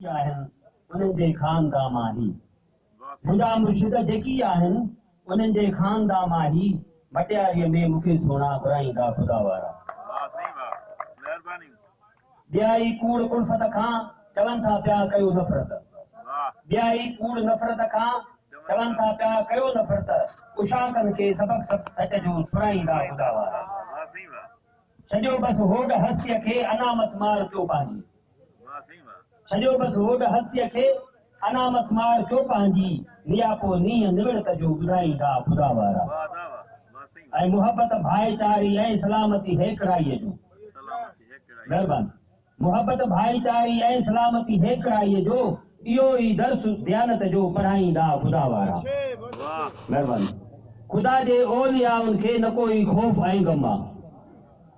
جيڪي آهن انهن جي خاندا مان هي منهنجا مرشد جيڪي آهن انهن جي خاندا مان هي مٽياري ۾ مون کي سهڻا گهرائيندا خدا وارا ٻيائي ڪوڙ الفت کان چون ٿا پيا ڪيو نفرت ٻيائي ڪوڙ نفرت کان چون ٿا پيا ڪيو نفرت اشاڪن کي سبق سب سچ جو سڻائيندا خدا وارا سڄو بس هوڏ هستي کي انا مسمار ٿيو پنهنجي سڄو بس هوڏ هستيء کي انا مس مار ڪيو پنهنجي نياپو نينهن نوڙت جو ٻڌائيندا خدا وارا ۽ محبت ڀائيچاري ۽ سلامتي هيڪڙائي جو مهربان محبت ڀائيچاري ۽ سلامتي هيڪڙائي جو اهو ئي درس ديانت جو پڙهائيندا خدا وارا مهربان خدا جي اوليائن کي نه ڪوئي خوف ۽ غم آ.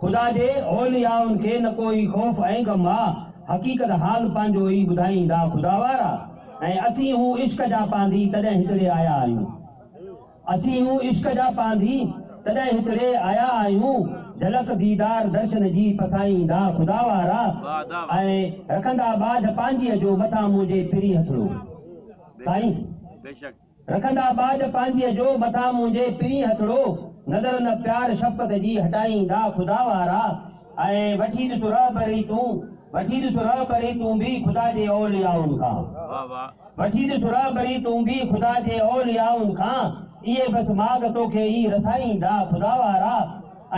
خدا جي اوليائن کي نه ڪو ئي خوف ۽ غم آ، حقيقت حال پنهنجو ئي ٻڌائيندا خدا وارا ۽ اسين هو عشق جا پانڌي تڏهن هتڙي آيا آهيون اسين هو عشق جا پانڌي تڏهن هتڙي آيا آهيون جهلڪ ديدار درشن جي پسائيندا خدا وارا ۽ رکندا ٻاجهه پنهنجيء جو مٿان منهنجي پرين هٿڙو سائين. رکندا ٻاجهه پانجهيء جو، مٿان منهنجي پرين هٿڙو، نظر نه پيار شفقت جي هٽائيندا خدا وارا، ۽ وٺي ڏس رهبري تون، وٺي ڏس رهبري تون به خدا جي اوليائن کان، وٺي ڏس رهبري تون به خدا جي اوليائن کان، اهي بس ماڳ توکي ئي رسائيندا خدا وارا، ۽.